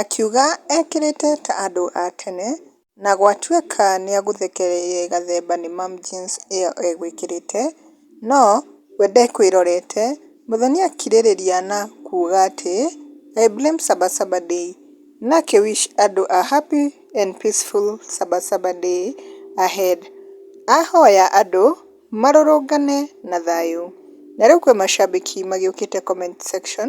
Akiuga ekĩrĩte ta andũ a tene na gwatuĩka nĩagũthekereire gathemba nĩ mum jeans ĩyo egwĩkĩrĩte no we ndekwĩrorete, Muthoni akirĩrĩria na kuga atĩ I blame saba saba day na akĩ wish andũ a happy and peaceful saba saba day ahead ahoya andũ marũrũngane na thayũ, na rĩu kwĩ macambĩki magĩũkĩte comment section